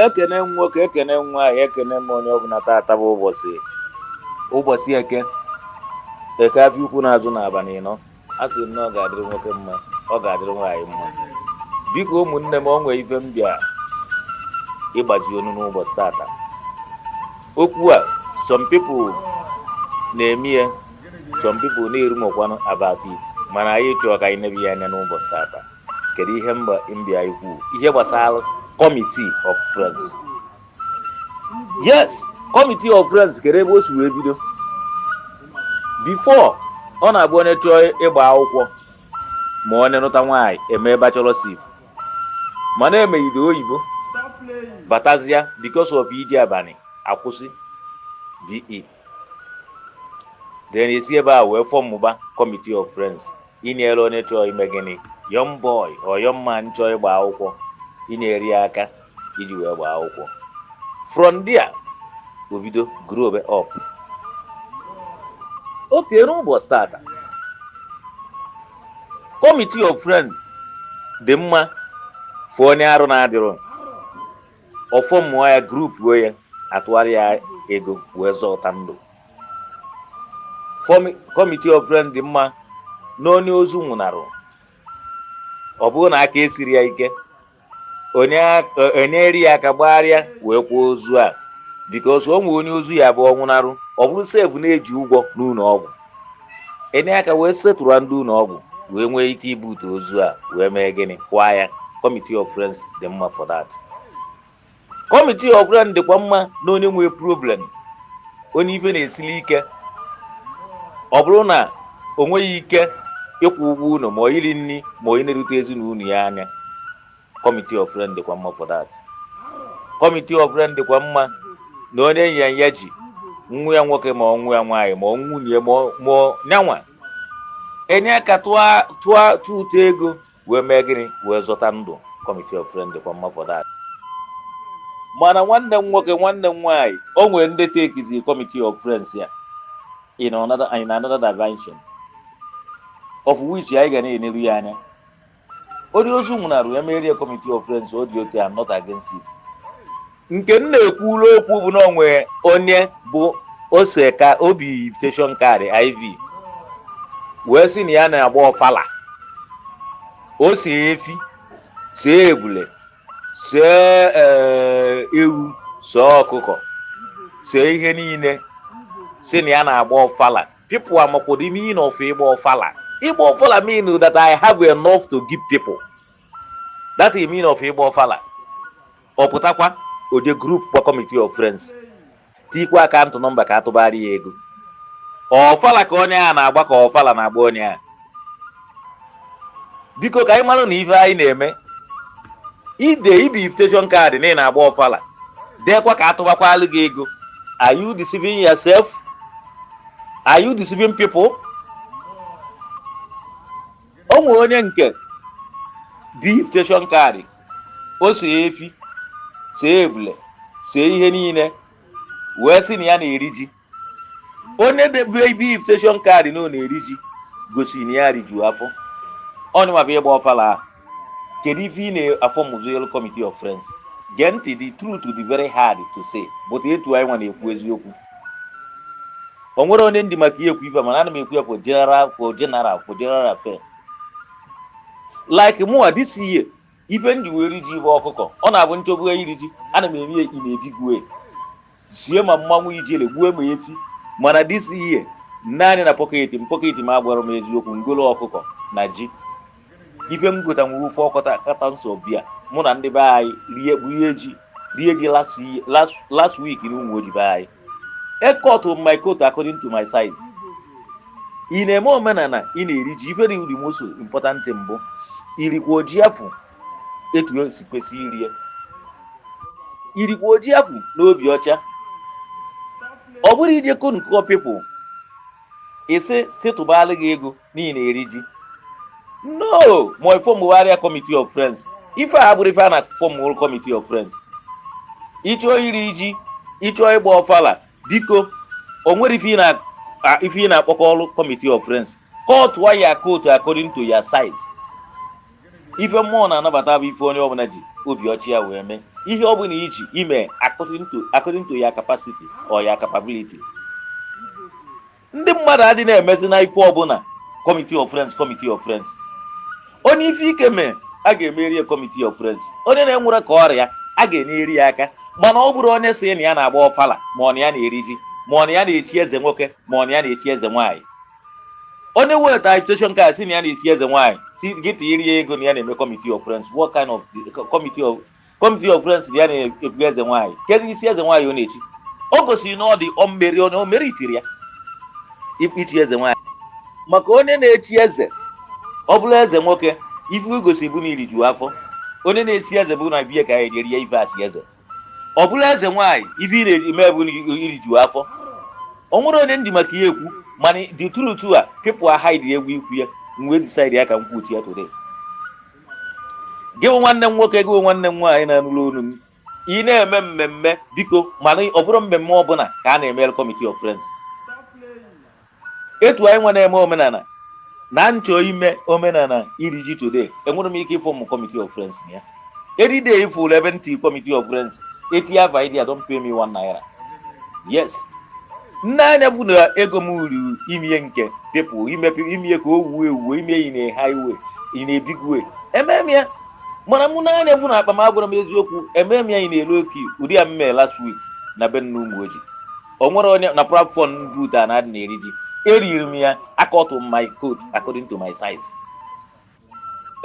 ekene m nwoke ekene m nwaanyị ekene m onye ọbụla tata bụ ụbọchị ụbọchị eke eke afịa ukwu na-azụ n'abalị ịnọ a sị m na ọ ga-adịrị nwoke mma ọ ga-adịrị nwaanyị mma biko ụmụnne m o nwe ife m bịa ịgbazi unu n'ụbọchị tata okwu a some people na-eme ya some people na-erumokwanụ about it mana anyị chọọ ka anyị nebe ya anya n'ụbọchị tata kedu ihe m bịa ikwu ihe gbasara committee of friends yes committee of friends kedu ebe o si wee bido before ọ na-abụ onye chọọ ịgba akwụkwọ ma onye nụta nwaanyị e mee bachelor's eve mana e megide oyibo batazia because of iji abalị a kwụsị BE then e si ebe a wee fọmụba committee of friends inyere onye chọọ ime gịnị young boy or young man chọọ ịgba akwụkwọ inyere ya aka iji wee gbaa akwụkwọ from there o bido grow up okay n'ụbọchị tata committee of friends dị mma for onye arụ na-adịrọ ọ fọmụọ ya group o ya a tụara ya ego wee zọta ndụ committee of friends dị mma na onye ozu nwụnarụ ọ bụrụ na aka esiri ya ike e nyere ya aka gbagharịa wee kwaa ozu a because o nwee onye ozu ya bụ ọ nwụnarụ ọ bụrụ sef na e ji ụgwọ n'ụlọ ọgwụ e nye aka wee settle ndị ụlọ ọgwụ wee nwee ike ibute ozu a wee mee gịnị kwaa ya committee of friends dị mma for that committee of friends dịkwa mma na onye nwee problem onye ife na-esili ike ọ bụrụ na o nweghị ike ịkwụ ụgwọ ụlọ ma ọ iri nri ma ọ inerute ezinụlọ ya anya committee of friends dịkwa mma for that committee of friends dịkwa mma na onye ọya ji nwa ya nwoke ma ọ nwa ya nwaanyị ma ọ nwunye ma nya nwa e nye aka tụọ ụtụ ego wee mee gịnị wee zọta ndụ committee of friends dịkwa mma for that mana nwanne m nwoke nwanne m nwaanyị o nwere ndị tekizi committee of friends a in another in another dimension of which anyị ga na-enelu ya anya onye ozu nwụnarụ ya merie committee of friends ọ dị okay I'm not against it nke m na-ekwuru okwu bụ na o nwe onye bụ ọ sị ka o bie invitation card IV wee sị na ya na-agba ọfala o see efi see ebule see ewu see ọkụkọ see ihe niile sị na ya na-agba ọfala People amakwa the meaning of ịgba ọfala. Ịgba ọfala mean that I have enough to give people. That's the meaning of ịgba ọfala. Ọ pụtakwa o je group kwa committee of friends. Tikwa akaụntụ nọmba ka atụbara ya ego. Ọfala ka onye a na-agba ka ọfala na-agba onye a. biko ka anyị mara na ife anyị na-eme ide ibi invitation card na ị na-agba ọfala deekwa ka atụbakwalụ gị ego are you deceiving yourself are you deceiving people o nwere onye nke bi invitation card o see efi see ebule see ihe niile wee sị na ya na-eri ji onye debe ibi invitation card na ọ na-eri ji gosi na ya riju afọ onye mabụ ịgba ọfala ahụ kedu ife ị na-afọmụzị committee of friends gee ntị the truth dị very hard to say but etu anyị nwa na-ekwu eziokwu o nwere onye m ji maka ya ekwu ife mana ana m ekwu ya for general for general for general affair like mụwa this year ife m ji wee ri ji bụ ọkụkọ ọ na-abụ m chọbụ iri ji ana m eme ya in a big way sie ma mmanwụ ijele gbuo ma efi mana this year naanị na pocket m pocket m agwara m eziokwu ngolo ọkụkọ na ji ife m gota nwere ofe ọkọta kata nsọ bịa mụ na ndị be anyị rie rie ji rie ji last week na Umuoji be anyị I cut my coat according to my size ị na-eme omenala ị na-eri ji ife dị the most important bụ irikwa ji afụ etu o si kwesị iri ya irikwa ji afụ n'obi ọcha ọ bụrụ ije konkọ people isi sị tụbalụ gị ego na ị na-eri ji no ma ị formbala committee of friends ife a bụrụ ife a na-aform committee of friends ị chọọ iri ji ị chọọ ịgba ọfala biko o nwere ife ị na-akpọkọrụ committee of friends cut your coat according to your size ife mmụọ na-anabata bụ ife onye ọbụla ji obi ọcha ya wee mee ihe ọbụla ị chọ ime according to your capacity or your capability ndị mmadụ adị na-emezi na ife ọbụla committee of friends committee of friends onye ife ike mee a ga-emere ya committee of friends onye na-enwerọ ka ọ ra ya a ga-enyere ya aka mana ọ bụrụ onye sị na ya na-agba ọfala ma ọ na ya na-eri ji ma ọ na ya na-echi eze nwoke ma ọ na ya na-echi eze nwaanyị onye weta invitation card sị na ya na-esi eze nwaanyị sị gị tinyere ya ego na ya na-eme committee of friends what kind of committee of committee of friends na ya na-ebu eze nwaanyị kezi isi eze nwaanyị ọ na-echi o gosiri na ọ dị omeri onye o meritiri ya ichi eze nwaanyị maka onye na-echi eze ọ bụla eze nwoke ife o gosi bụ na i riju afọ onye na-esi eze bụ na bịa ka ya erie ife asị eze ọ bụrọ eze nwaanyị ife ị na-eme bụ iriju afọ o nwerọ onye m ji maka ya ekwu mana the truth a people are hide egwu ikwu ya m wee decide ya ka m kwuchie ya today gị bụ nwanne m nwoke gị bụ nwanne m nwaanyị na-anụrụ olu m ị na-eme mmemme biko ma na ọ bụrọ mmemme ọbụla ka a na-emere committee of friends etu anyị wee na-eme omenala na m chọọ ime omenala iri ji today enwerọ m ike ịform committee of friends na ya any day ị fụlụ ebe m tii committee of friends eti ya vaidi ya don't pay me one naira yes m nee anya fụ na ego m ruru ime ya nke people ime ya ka o wuo ewuo ime ya in a high way in a big way emee m ya mana m nee anya fụ na akpa m agwara m eziokwu emee m ya in a low key ụdị ya m mee last week na be m n'Ụmụoji o nwere onye na platform boot a na-adị na-eri ji eriri m ya I cut my coat according to my size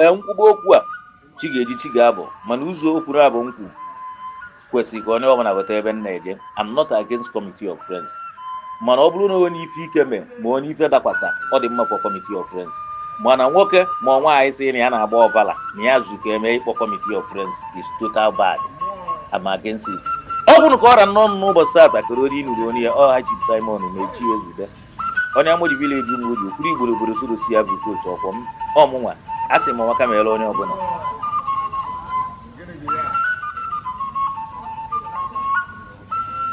ee m kwuba okwu a chi ga-eji chi ga-abọ mana ụzọ okwu naabọ m kwu kwesịrị ka onye ọbụla wọta ebe m na-eje I'm not against committee of friends mana ọ bụrụ na onye ife ike mee ma onye ife dakwasa ọ dị mma for committee of friends mana nwoke ma nwaanyị sị na ya na-agba ọvala na ya zuka eme ị kpọọ committee of friends is total bad I'm against it ọ bụrụ ka ọ ra nnọọ n'ụbọchị taata kere onye ị nụrụ onu ya ọha Chief Simon na-echi ezube onye Amoji village Ụmụoji kwuru igboro obodo sorosi ya bụ kotu ọkwọ m ọmụnwa a sị m ọnwa kama ele onye ọbụla